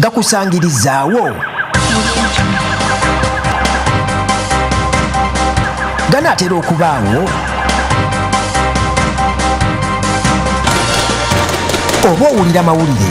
gakusangirizaawo ganaatera okubaawo oba owulira mawulire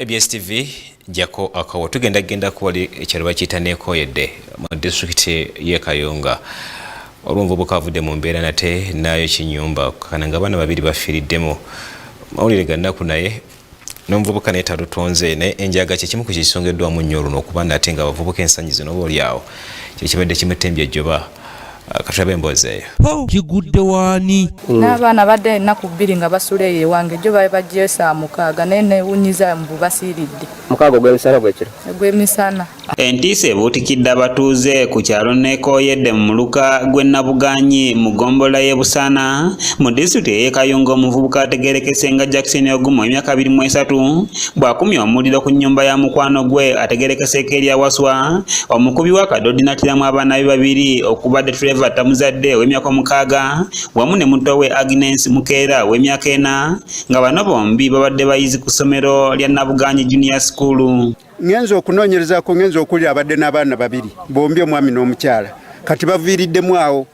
ABS TV jako akawo tugenda genda kuwali ekyalo bakiyita nekoyedde mu disitulikiti y'e Kayunga olumva obukavudde mu mbeera nate naayo kinyumba kana nga abaana babiri bafiiriddemu mawulire gannaku naye n'omuvubuka naye talutonze naye enjaga kyekimu ku kyekisongeddwamu nnyo oluno okuba nate nga abavubuka ensanyi zino oba olyawo kyekibadde kimutembye ejjoba katulabe emboozi eyo oh, kigudde waani mm. n'abaana badde ennaku bbiri nga basula eyo ewange jo babe bagyesa mukaaga naye newunyiza mbu basiiridde mukaaga ogw'emisana gwekiro ogw'emisana entiisa ebuutikidde abatuuze ku kyalo neekooyedde mu muluka gw'e nabuganyi mu ggombola y'e busaana mu disitulikiti ey'ekayunga omuvubuka ategerekese nga jackson ogumu emyaka abiri mu esatu bw'akumye omuliro ku nnyumba ya mukwano gwe ategerekeseeko erya waswa omukubi w'akadodi n'attiramu abaana be babiri okubadde trevor tamuzadde ow'emyaka omukaaga wamu ne muto we agnes mukeera ow'emyaka ena nga bano bombi babadde bayizi ku ssomero lya nabuganyi junior school ngenza okunoonyerezako ngenza okuwulira abadde n'abaana babiri bombi omwami n'omukyala kati baviiriddemu awo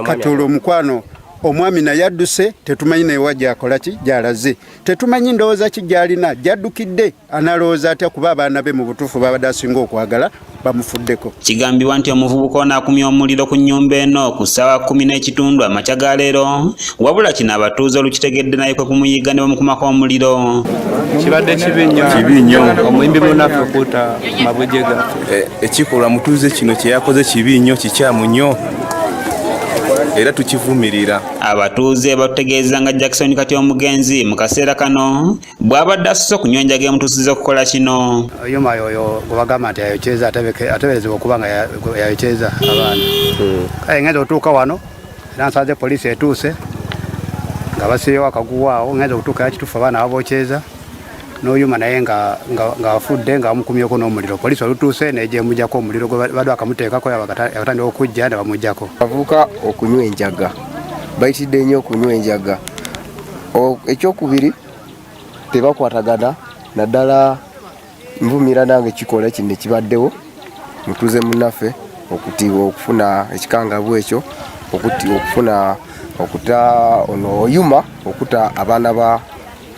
kati olwo omukwano omwami naye adduse tetumanyi naye wa gyakola ki gyalaze tetumanyi ndowooza ki gyalina gyaddukidde analowooza atya kuba abaana be mu butuufu babadde asinga okwagala bamufuddeko kigambibwa nti omuvubuka ono akumya omuliro ku nnyumba eno ku ssaawa kumi n'ekitundu amakya ga leero wabula kino abatuuze olukitegedde naye kwe kumuyigga ne bamukumako omuliro kibadde kibi nnyo kibi nnyo omuyimbi munaffe okuuta mabujega eh, ekikolwa mutuuze kino kye yakoze kibi nnyo kikyamu nnyo era tukivumirira. Abatuuze batutegeeza nga Jackson kati omugenzi mu kaseera kano bw'abadde asuse okunywa enjaga emutuusiza okukola kino. Yuma yoyo gwebagamba nti yayokyeza ateberezebwa okuba nga yayokyeza abaana hmm. kale ngenda otuuka wano era nsanze poliisi etuuse nga basiiyewo akaguwa awo ngenda okutuuka era kituufu abaana babokyeza noyuma naye nga afudde nga bamukumyeko n'omuliro poliisi olutuuse negyemujako omuliro gwebadde akamuteekako yakatandika okujja nebamujako avuka okunywa enjaga bayitidde nnyo okunywa enjaga ekyokubiri tebakwatagana naddala nvumira nange kikola kino ekibaddewo mutuze munaffe okutibwa okufuna ekikangabu ekyo okufuna okuta ono oyuma okuta abaana ba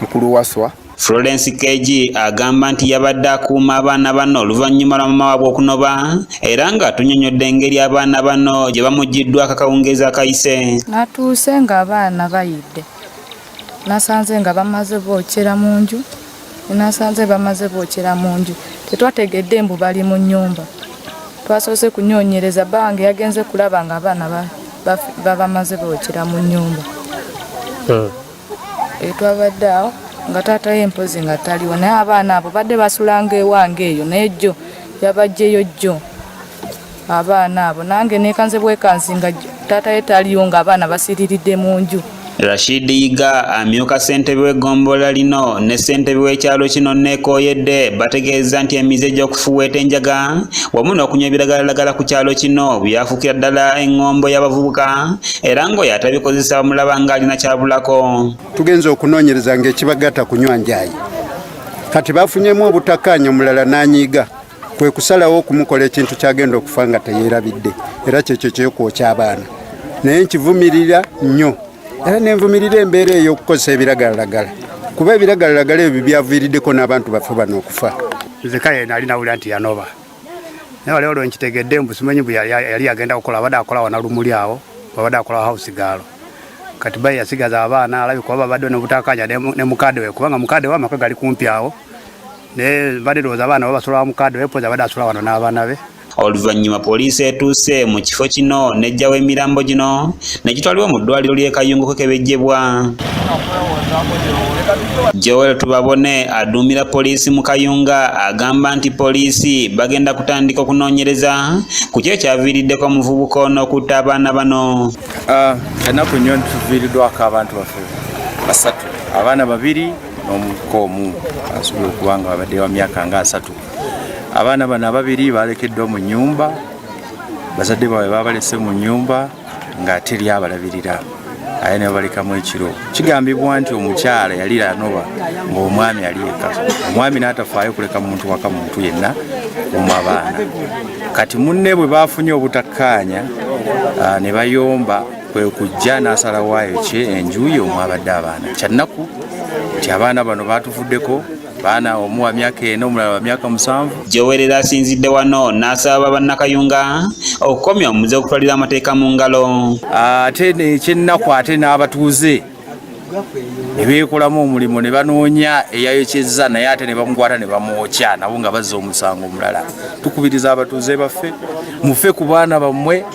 mukulu waswa Florence KG agamba nti yabadde akuuma abaana bano oluvannyuma lwa mama waabwe okunoba era nga tunyonyodde engeri abaana bano gye bamuggiddwa akakawungeezi akayise natuuse ng'abaana bayidde nasanze nga bamaze bokyera mu nju nasanze bamaze bokyera mu nju tetwategedde mbu bali mu nnyumba twasoose kunyonyereza bange yagenze kulaba ng'abaana babamaze bokyera mu nnyumba hmm. etwabadde awo nga taata ye mpozi nga taliwo naye abaana abo badde basulanga ewange eyo naye jjo yabajjeyo jjo abaana abo nange nekanze bwekanzi nga taata ye taliwo nga abaana basiriridde mu nju Rashid Yiga amyuka ssentebe w'eggombolola lino ne ssentebe w'ekyalo kino neekooyedde bategeeza nti emize gy'okufuweeta enjaga wamu n'okunywa ebiragalalagala ku kyalo kino byafuukira ddala eŋŋombo y'abavubuka era ng'oyo atabikozesa bamulaba ng'alina kyabulako tugenza okunoonyereza ng'ekibagatta kunywa njaayi kati bafunyemu obutakkaanya omulala n'anyiiga kwe kusalawo okumukola ekintu kyagenda okufa nga teyeerabidde era kyekyo kyekwokya abaana naye nkivumirira nnyo era nenvumirira embeera ey'okukozesa ebiragalalagala kuba ebiragalalagala ebyo byaviiriddeko n'abantu baffe bano okufa nze kale nali nawulira nti yanoba naye wali olwo nkitegedde mbu simanyi mbu yali agenda kukola abadde akola wana lumuli awo abadde akola house gaalo kati bayi yasigaza abaana alabi kuba babadde nobutakanya ne mukade we kubanga mukade we amaka gali kumpi awo naye mbadde ndowooza abaana babasula wa mukade we poza abadde asula wano n'abaana be oluvannyuma poliisi etuuse mu kifo kino n'ejjawo emirambo gino ne kitwalibwa mu ddwaliro ly'e Kayungu kukebejjebwa. Joel Tubabone aduumira poliisi mu Kayunga agamba nti poliisi bagenda kutandika okunoonyereza ku kyo ekyaviiriddeko omuvubuka ono okutta abaana bano. Ah, ennaku nnyo tuviiriddwako abantu baffe basatu abaana babiri n'omuvubuka omu asobola okuba nga babadde wa myaka nga asatu abaana bano ababiri balekeddwa mu nnyumba bazadde baabwe babalese mu nnyumba nga teri abalabirira aye nebabalekamu ekiro kigambibwa nti omukyala yali lanoba ngaomwami ali eka omwami natafaayo kuleka muntu waka muntu yenna omu abaana kati munne bwe bafunye obutakkaanya ah, ne bayomba kwe kujja n'asalawayo kye enjuyi omwabadde abaana kyannaku nti abaana bano batuvuddeko baana omu wa myaka ena omulala wa myaka musanvu jowerera asinzidde wano n'asaba bannakayunga okukomya omuze okutwalira amateeka mu ngalo ate ekyennaku ate n'abatuuze ne beekolamu omulimu ne banoonya eyayokyezza naye ate ne bamukwata ne bamwokya nabo nga bazza omusango omulala tukubiriza abatuuze baffe mufe ku baana bammwe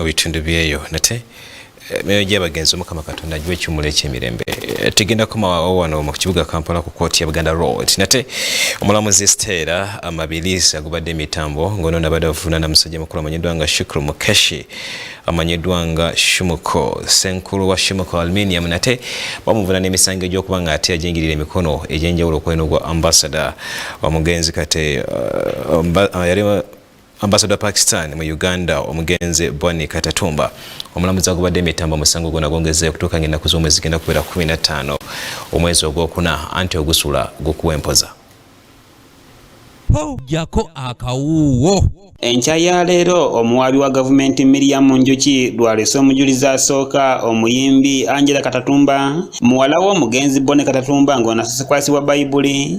mu bitundu byeyo nate emyoyo eh, gy'abagenzi omukama katonda agiwa ekiwumulo eky'emirembe eh, tegenda kumawawo wano mu kibuga kampala ku kooti ya buganda road nate omulamuzi steera amabilisi agubadde emitambo ng'ono nabadde avunaana musajja mukulu amanyiddwa nga shukru mukeshi amanyiddwa nga shumuko senkulu wa shumuko aluminium nate bamuvuna n'emisango egy'okuba nga ate yajingirira emikono egy'enjawulo okweno gwa ambasada omugenzi kate eh, yali Ambasada wa Pakistan mu Uganda omugenzi Bonny Katatumba omulamuzi agubadde emitambo omusango guno agongezza okutuuka ng'ennaku z'omwezi zigenda kubeera kumi na ttaano omwezi ogwokuna anti ogusula gukuwa empoza. Jako akawuuwo. Enkya ya leero omuwaabi wa gavumenti Miriam Njuki lwalese omujulizi asooka omuyimbi Angela Katatumba muwala w'omugenzi Bonny Katatumba ng'ono asese kwasibwa Bayibuli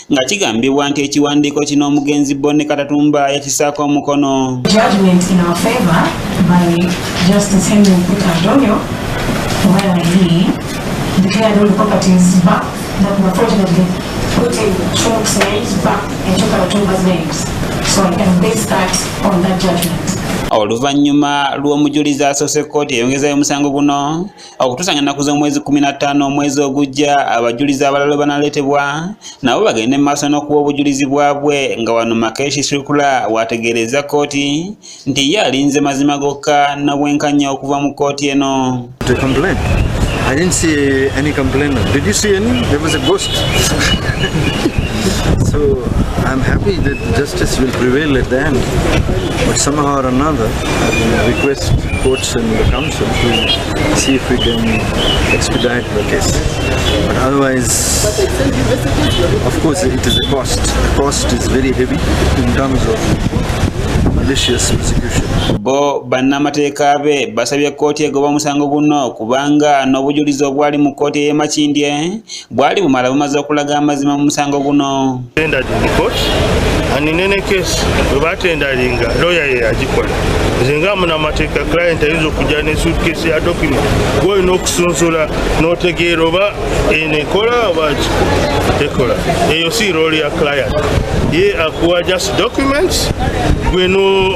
nga kigambibwa nti ekiwandiiko kino omugenzi Bonne Katatumba yakisaako omukono oluvannyuma lw'omujulizi asoose kkooti eyongezayo omusango guno okutuusa nga nnaku z'omwezi kkumi na ttaano omwezi ogujja abajulizi abalala banaleetebwa nabo bagende mu maaso n'okuwa obujulizi bwabwe nga wano makeshi sirkula waategeerezza kkooti nti ye alinze mazima gokka na bwenkanya okuva mu kkooti eno I didn't see any complainant. Did you see any? There was a ghost. so I'm happy that justice will prevail at the end. But somehow or another, I request courts and the council. see if we can expedite the case. But otherwise, of course, it is a cost. The cost is very heavy in terms of bo bannamateeka be basabye kkooti egoba omusango guno kubanga n'obujulizi obwali mu kkooti ey'emakindye bwali bumala bumaze okulaga amazima mu musango guno aninenekesi webatendalinga loya ye yagikola nze nga munamateeka client ayinza okujja ne sutkesi ya document gwoyina okusunsula notegeera oba enekola oba ekola eyo si rooli ya client ye akuwa just documents gweno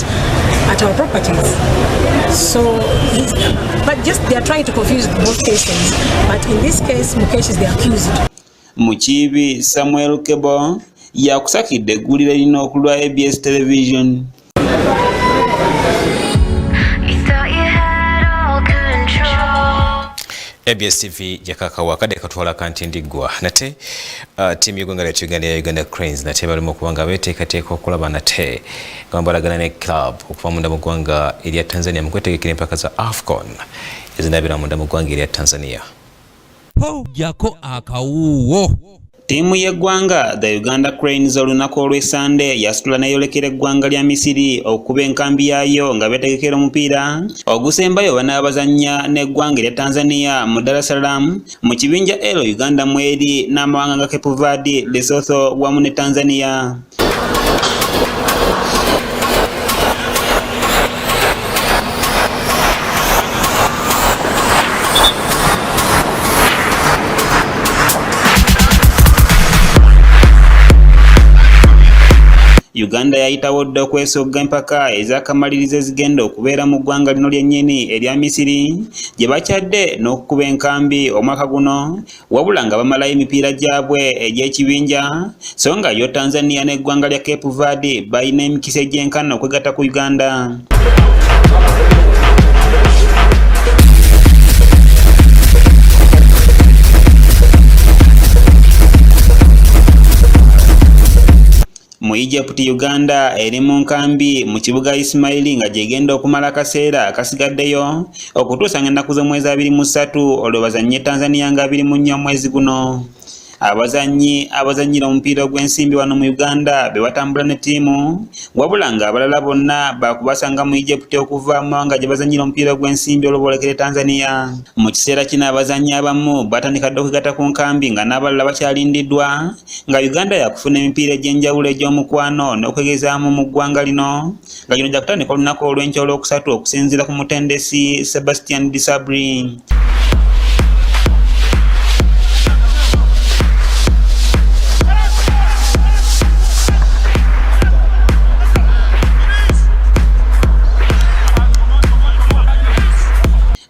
at our properties. So, but just they are trying to confuse both cases. But in this case, Mukesh is the accused. Mukibi Samuel Kebo yakusakidde eggulire lino okulwa ABS television. abs tv jakakawa kade katwala kanti ndigwa nate uh, timu yegwanga lya uganda ya uganda cranes nate balimu okuba nga beteekateeka okulaba nate nga balagana ne club okuva munda mu ggwanga erya Tanzania mu kwetegekera empaka za AFCON ezinabira munda mu ggwanga erya Tanzania. Tojjako akawuuwo. Ttiimu y'eggwanga the Uganda Cranes olunaku olw'esande yasitula n'eyolekera eggwanga lya Misiri okukuba enkambi yaayo nga beetegekera omupiira ogusembayo banaabazannya n'eggwanga erya Tanzania mu Dar es Salaam mu kibinja L Uganda mweri n'amawanga nga Cape Verde, Lesotho wamu ne Tanzania. Uganda yayitawo dda okwesogga empaka ez'akamalirizo ezigenda okubeera mu ggwanga lino lyennyini erya Misiri gye bakyadde n'okukuba enkambi omwaka guno wabula nga bamalayo emipiira gyabwe egy'ekibinja so nga yo tanzania n'eggwanga lya cape verde balina emikisa egyenkana okwegatta ku uganda Mu Egypt, Uganda eri mu nkambi mu kibuga Ismaili nga gyegenda okumala akaseera akasigaddeyo okutuusa nga ennaku z'omwezi abiri mu ssatu olwo bazannye Tanzania nga abiri mu nnya omwezi guno. Abazannyi abazannyira omupiira ogw'ensimbi wano mu Uganda be batambula ne ttiimu wabula ng'abalala bonna baakubasanga mu Egypt okuva mu mawanga gye bazannyira omupiira ogw'ensimbi olwo boolekere Tanzania. Mu kiseera kino abazannyi abamu batandika dda okwegatta ku nkambi nga n'abalala bakyalindiddwa nga Uganda yakufuna emipiira egy'enjawulo egy'omukwano n'okwegezaamu mu ggwanga lino nga gino gyakutandika olunaku olw'enkya olwokusatu okusinziira ku mutendesi Sebastian Disabri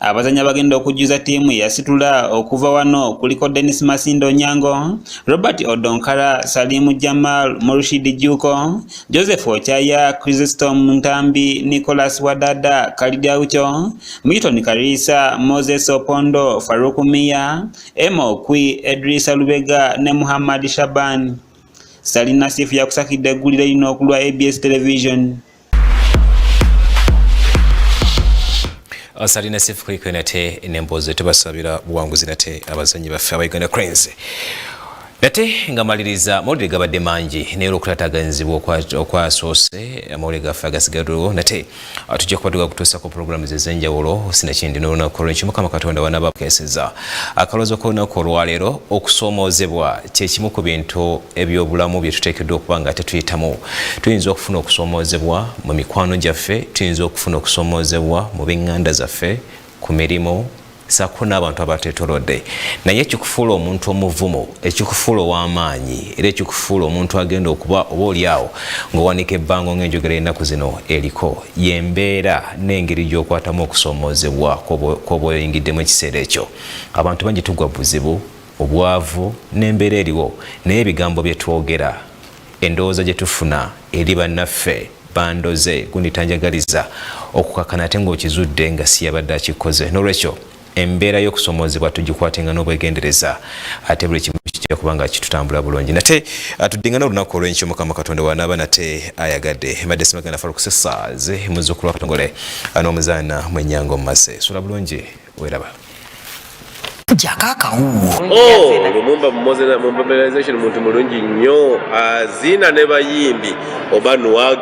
abazanyi abagenda okujjuza ttiimu yasitula okuva wano kuliko denis masindo onyango Robert Odonkara, Salimu Jamal, Murshid Juko, Joseph Ochaya, Chrysostom Ntambi, Nicholas Wadada, Kalidia Ucho, Milton Karisa, Moses Opondo, Farouk Miya, Emma Okwi, Edrisa Lubega ne Muhammad Shaban. Salina Sifu yakusakidde eggulire lino okulwa ABS Television. asali na sifu kwiko nate nembozo tubasabira buwanguzi nate abazanyi baffe aba Uganda Cranes nate nga maliriza amawulire gabadde mangi naye olwokutataganyizibwa okwasoose amawulire gaffe agasigaddewo nate ah, tujja kubaduka kutuusako pulogulaamu zezenjawulo sinakindi n'olunaku olwenkyo mukama katonda wanaaba akeseza Akaloozo k'olunaku olwaleero okusoomoozebwa kye kimu ku bintu eby'obulamu bye tuteekeddwa okuba nga tetuyitamu. Tuyinza okufuna okusoomoozebwa mu mikwano gyaffe, tuyinza okufuna okusoomoozebwa mu b'eŋŋanda zaffe, ku mirimu saako n'abantu abateetolodde naye ekikufuula omuntu omuvumu ekikufuula ow'amaanyi era ekikufuula omuntu agenda okuba oba oli awo ng'owanika ebbango ng'enjogera ennaku zino eriko yembeera n'engeri gy'okwatamu okusoomoozebwa kw'obwoyingiddemu ekiseera ekyo abantu bangi tugwa buzibu obwavu n'embeera eriwo naye ebigambo bye twogera endowooza gye tufuna eri bannaffe bandoze gundi tanjagaliza okukakana ate ng'okizudde nga siyabadde akikoze n'olwekyo embeera y'okusomoozebwa tugikwatenga n'obwegendereza ate buli kimu kijja kuba nga kitutambula bulungi nate atuddingana olunaku olwenkyo mukama katonda wanaaba nate ayagadde mbadde simagenda falukusesaaze muzukulwa katongole n'omuzaana mwenyanga omumase sula bulungi weraba jaka akawuwo oh, lumumba mobilization muntu mulungi nnyo azina ne bayimbi oba nwagi